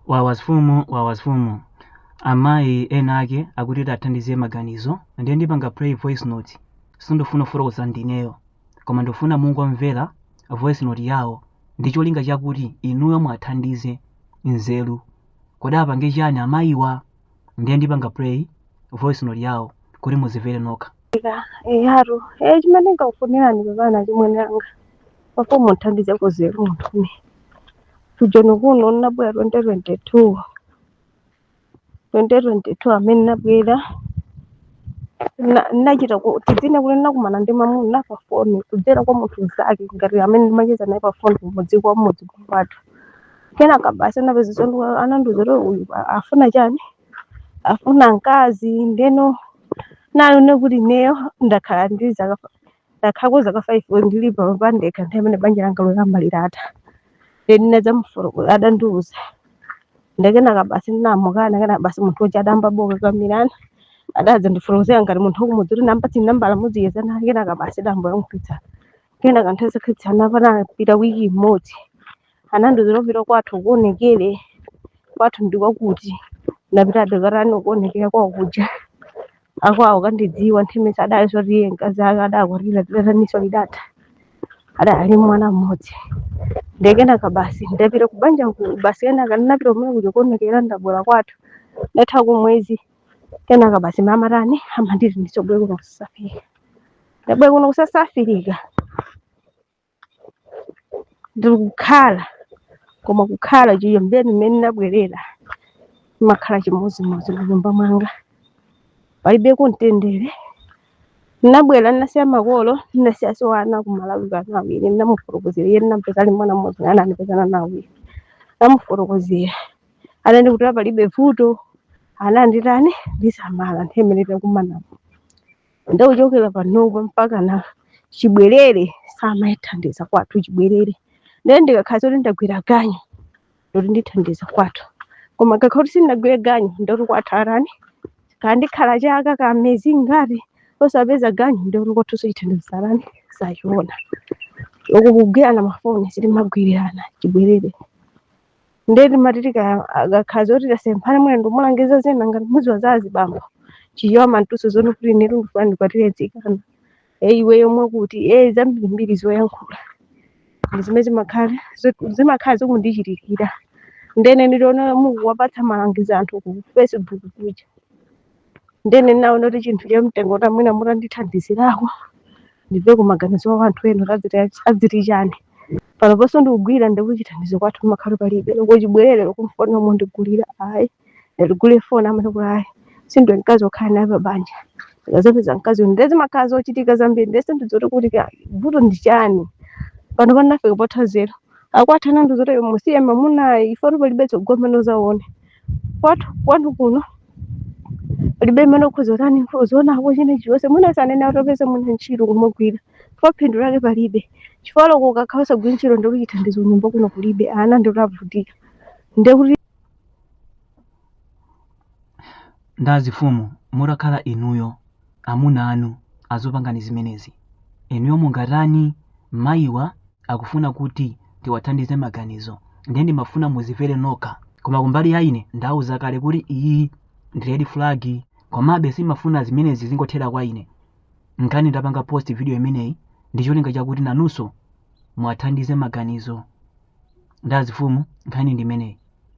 Wawasfumu wawasfumu amayi ena ake akuti muwathandize maganizo ndiye ndipanga play voice note sindifuna kufotokoza ndineyo koma ndifuna mungomvera voice note yawo ndi cholinga chakuti inuyo muwathandize nzeru kodi apange chani amayiwa ndiye ndipanga play voice note yawo kuti muzimvere nokha Ika, eyatu. Eh, chimene ndikukufunirani pepani achimwene anga. Pofuna mundithandizeko nzeru munthune. Ku Joni kuno ndinabwera 2022. 2022 amene nabwera na- nachita ku- tidzinena kuti nakumana ndi mamuna pa foni kudzera kwa munthu mzake ngati amene ndimacheza naye pa foni kumudzi kwa mmudzi kwathu kenaka basi anapeza zondiuza anandiuza kuti uyu a- afuna chani afuna mkazi ndeno nayo nekuti neyo ndakhala ndi zaka Ndakhala kwa zaka 5 kuti ndili pano pandekha nthawi imene banja langa loyamba litatha. Ndiye ndinadzamufotokoza adandiuza. Ndiye kenaka basi ndinamukana kenaka basi munthu uja adayambabe kukakamirana. Adadzandifotokozera ngati munthu wakumudzi kuti ndamupatse nambala muzicheza naye kenaka basi adayamboyankhulitsa. Kenaka nthawi zokhetsana panapita wiki imodzi. anandiuza ndipita kwathu kukaonekera kwathu ndikwakuti ndinapitadi kukatani kuonekera kwawo kuja akwawo akandidziwa nthemesa adali zoti iye mkazi ake adakwatira lidataninso lidatha adali mwana mmodzi ndekenaka basi ndapita kubanja ku- basi kenaka ndinapita kumene kuja kuonekera ndabwera kwathu ndathako mwezi kenaka basi mamuna atani amanditi ndisobwe kuno kusafika ndabwera kuno ku South Africa ndikukhala koma kukhala chiyambeni mmene ndinabwerera timakhala chimodzimodzi munyumba mwanga palibeko mtendere ndinabwera ndinasiya makolo ndinasiyaso ana kumalawi kano awiri ndinamufotokozera iye ndinampeza ali mwana mmodzi ana andipezana nawo awiri ndamufotokozera anati kuti palibe vuto ana anditani ndisamala nthawi imene takumanapo nde kuchokera panopa mpaka na chibwerere samandithandiza kwathu chibwerere nde ndikakhala zoti ndagwira ganyu ndoti ndithandiza kwathu koma ndikakhala kuti sindinagwire ganyu ndoti kwathu atani ndikakhala chaka kaya mwezi ngati osapeza ganyu ndoti kwathuso chithandizo atani sachiona uku kugwirana mafoni sitimagwirirana chibwerere Ndiye timati tikakakhala zoti tasemphana mwina ndikumulangiza zina ngati mudziwa za azibambo. Chija amandiuza zoti kuti inetu ndifuna ndikwatire mtsikana. Eh iweyo mwakuti eh zambirimbiri zoyankhula. Ndi zimene zimakhala zot- zimakhala zikundichitikira. Ndene ndinaona mukuwapatsa malangizo anthu ku Facebook kuja. ndene naona kuti chinthu cha mtengo kuti amwina mutandithandizirako ndimveko maganizo wa anthu ena kuti adziti- adziti chani pano ponso ndikugwira ndikuti chithandizo kwathu kumakhala palibe loko chibwerere loko m'foni momwe ndikulira ayi ndatigule foni amene kuti ayi sindiwe mkazi wokhala naye pa banja ndikadzapeza mkazi uyu nde zimakhala zochitika zambiri nde sindidziwa kuti ka- vuto ndi chani pano ndinafika potha nzeru akwathu anandiuza kuti iyo musiye mamunayu chifukwa choti palibe tsogolo limene udzaone kwathu kwanu kuno palibe chimene ukhoza kutani uzionako china chilichonse mwina usananene utapeza mwina ntchito kumagwira chifukwa phindu lake palibe chifukwa loko ukakhala usagwira ntchito ndikuti chithandizo m'nyumba muno kulibe ana ndikuti akuvutika ndekuti ndazifumu mutakhala inuyo amuna anu azikupangani zimenezi. Inuyo mungatani? Mayiwa akufuna kuti tiwathandize maganizo ndiye ndimafuna muzimvere nokha. Koma kumbali ya ine ndauza kale kuti iyi ndi red flag komabe sindimafuna zimenezi zingothera kwa ine. Nkhani ndapanga post video imeneyi ndi cholinga chakuti nanunso muwathandize maganizo. Ndazifumu nkhani ndi imeneyi.